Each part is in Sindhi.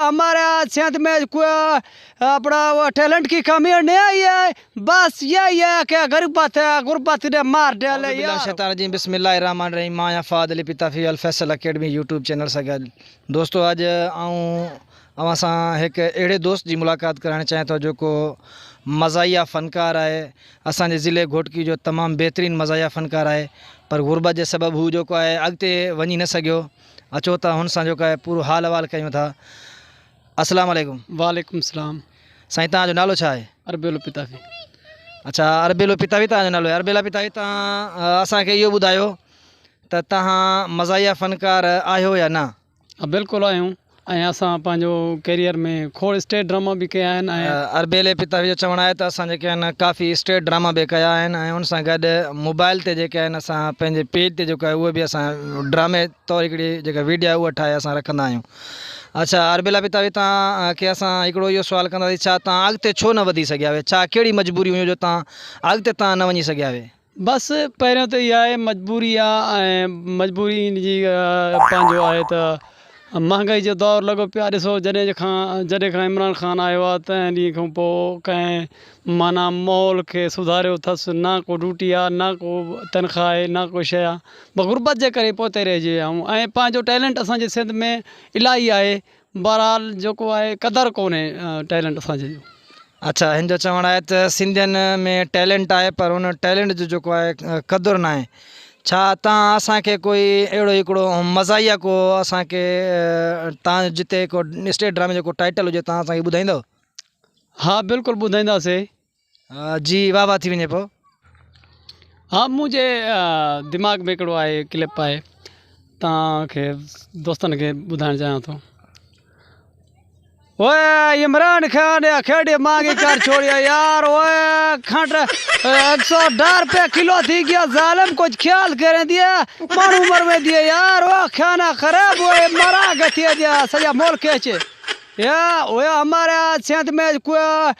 ھمارا سنڌ مي ڪوئي اپنا ٽيلنٽ ڪي ڪمي ني آئي ھي بس يھي ھي ڪي غربت ھي غربت ني مار ڊيلي يار. اعوذباللہ من الشیطان الرجیم بسم الله الرحمن الرحیم مان آھيان Fahad Ali Pitafi Alfaisal academy YouTube channel سان گڏ دوستو اڄ آئون اوھان سان ھڪ اھڙي دوست جي ملاقات ڪرائڻ چاھيان ٿو جيڪو مزاحيه فنڪار آھي اسان جي ضلعي گھوٽڪي جو تمام بھترين مزاحيه فنڪار آھي پر غربت جي سبب ھو جيڪو آھي اڳتي وڃي نه سگھيو اچو ته هن سان جيڪو آهي پورو حال احوال ڪيون ٿا السلام عليڪم وعليڪم السلام سائين تان جو نالو ڇا آهي اربيلو پتافي اچھا اربيلو پتافي تان جو نالو آهي اربيلا پتافي تان اسان کي اهو ٻڌايو ته تهان مزاحيه فنڪار آهيو يا نه ها بلڪل آهيون ۽ اسان پنهنجو ڪيريئر ۾ کوڙ اسٽيج ڊراما به ڪيا آهن ۽. اربيلي پتاوي جو چوڻ آهي ته اسان جيڪي آهن ڪافي اسٽيج ڊراما به ڪيا آهن ۽ ان سان گڏ موبائل تي جيڪي آهن اسان پنهنجي پيج تي جيڪو آهي اهو به اسان ڊرامي طور هڪڙي جيڪا ويڊيو آهي اها ٺاهي اسان رکندا آهيون اڇا اربيلا پتاوي توهان کي اسان هڪڙو اهو سوال ڪنداسين ڇا توهان اڳتي ڇو نه وڌي سگهيا اهي ڇا ڪهڙي مجبوري هيون جو توهان اڳتي توهان نه وڃي سگهيا اهي بس پهريون ته اها آهي مجبوري آ ۽ مجبوري ان جي پنهنجو آهي ته مهانگائي جو دور لڳو پيو آ ڏسو جڏهن جي کان جڏهن کان عمران خان آيو آ تنهن ڏينهن کان پو ڪنهن معنيٰ ماحول کي سڌاريو اٿس نه ڪو ڊوٽي آ نه ڪو تنخواه آهي نه ڪو شي آ غربت جي ڪري پوتي رهجي ويا آهيون ۽ پنهنجو ٽيلنٽ اسان جي سنڌ ۾ الاهي آهي بهرحال جيڪو آهي قدر ڪونهي ٽيلنٽ اسان جي جو. اڇا هن جو چوڻ آهي ته سنڌين ۾ ٽيلنٽ آهي پر ان ٽيلنٽ جو جيڪو آهي قدر ناهي ڇا تان اسان کي ڪوئي اهڙو هڪڙو مزاحيه ڪو اسان کي تان جتي ڪو اسٽيج ڊرامي جو ڪو ٽائيٽل هجي تان اسان کي ٻڌائيندو. ها بلڪل ٻڌائينداسي. جي واه واه ٿي وڃي پئو. ها منهنجي دماغ ۾ هڪڙو آهي ڪلپ آهي توهان کي دوستن کي ٻڌائڻ چاهيان ٿو. اوء عمران خان يا کيڙي مانگي ڪر ڇوڙيا يار اوء کنڊ ايڪ سو ڏھ روپيا ڪلو ٿي گيا ظالم ڪجھ خيال ڪرين ديئي ماڻھو مروين ديئي يار اوء کانا خراب اوء مرا گھتي ديئي سڄا ملڪ اچي يا اوء ھمارا سنڌ مين ڪوئي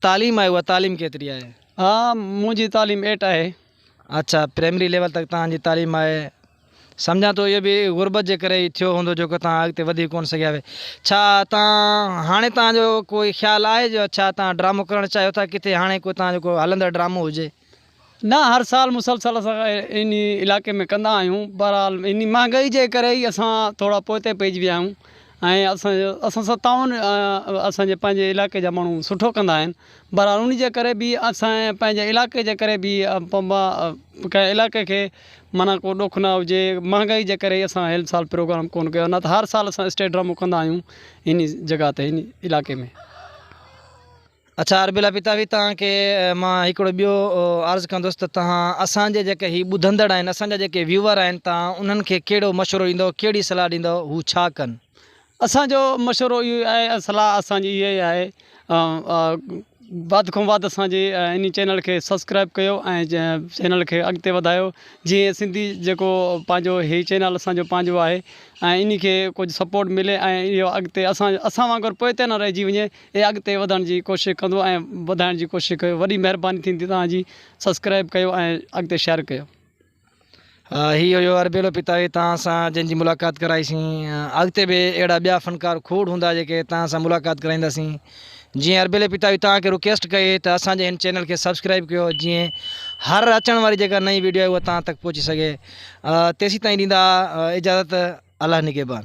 تعليم آهي اها تعليم ڪيتري آهي؟ ها منهنجي تعليم ايٽ آهي. اچا پرائمري ليول تڪ توهان جي تعليم آهي سمجهان ٿو اهو به غربت جي ڪري ئي ٿيو هوندو جيڪو توهان اڳتي وڌي ڪونه سگهيا اهي ڇا توهان هاڻي توهان جو ڪوئي خيال آهي جو ڇا توهان ڊرامو ڪرڻ چاهيو ٿا ڪٿي هاڻي ڪو توهان جو ڪو هلندڙ ڊرامو هجي. نه هر سال مسلسل اسان ان علائقي ۾ ڪندا آهيون بهرحال ان مهانگائي جي ڪري ئي اسان ٿورا پوئتي پئجي ويا آهيون ۽ اسان اسان سان تعاون اسانجي پنهنجي علائقي جا ماڻهو سٺو ڪندا آهن بهرحال ان جي ڪري به اسان پنهنجي علائقي جي ڪري به ڪنهن علائقي کي معنيٰ کو ڏک نه هجي مهانگائي جي ڪري اسان هن سال پروگرام ڪونه ڪيو نه ته هر سال اسان اسٽيج ڊرامو ڪندا آهيون ان جڳهه تي ان علائقي ۾ اڇا اربيلا پتاوي توهان کي مان هڪڙو ٻيو عرض ڪندس ته توهان اسان جي جيڪي هي ٻڌندڙ آهن اسان جا جيڪي ويوور آهن توهان انهن کي ڪهڙو مشورو ڏيندو ڪهڙي صلاح ڏيندو هو ڇا ڪن. اسان جو مشورو اهو ئي آهي صلاح اسان جي اها ئي آهي وڌ کان وڌ اسان جي انهي چينل کي سبسڪرائب ڪيو ۽ چينل کي اڳتي وڌايو جي سنڌي جيڪو پنهنجو هي چينل اسان جو پنهنجو آهي ۽ انهي کي ڪجهه سپورٽ ملي ۽ اهو اڳتي اسان اسان وانگر پوئتي نه رهجي وڃي اي اڳتي وڌڻ جي ڪوشش ڪندو ۽ وڌائڻ جي ڪوشش ڪيو وڏي مهرباني ٿيندي توهان جي سبسڪرائب ڪيو ۽ اڳتي شيئر ڪيو. هي هيو اربيلو پتاوي توهان سان جنهن جي ملاقات ڪرائي سين اڳتي به اهڙا ٻيا فنڪار کوڙ هوندا جيڪي توهان سان ملاقات ڪرائيندا سين جيئن اربيلي پتاوي توهان کي رڪيسٽ ڪئي ته اسان جي هن چينل کي سبسڪرائب ڪيو جيئن هر اچڻ واري جيڪا نئين ويڊيو آهي اها توهان تڪ پهچي سگهي تيسين تائين ڏيندا اجازت الله نگهبان.